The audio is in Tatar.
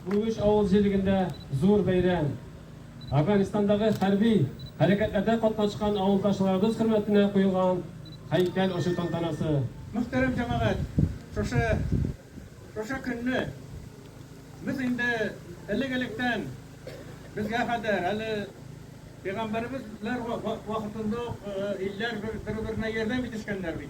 Бүгүч авыл җирлегендә зур бәйрәм. Әфганстандагы хәрби хәрәкәтләрдә катнашкан авылдашларыбыз хөрмәтенә куелган һәйкәл ачу тантанасы. Мөхтәрәм җәмәгать, шушы, шушы көнне без инде элек-электән, безгә кадәр, әле пәйгамбәребез ләр вакытында ук илләр бер-беренә ярдәм итешкәннәр бит.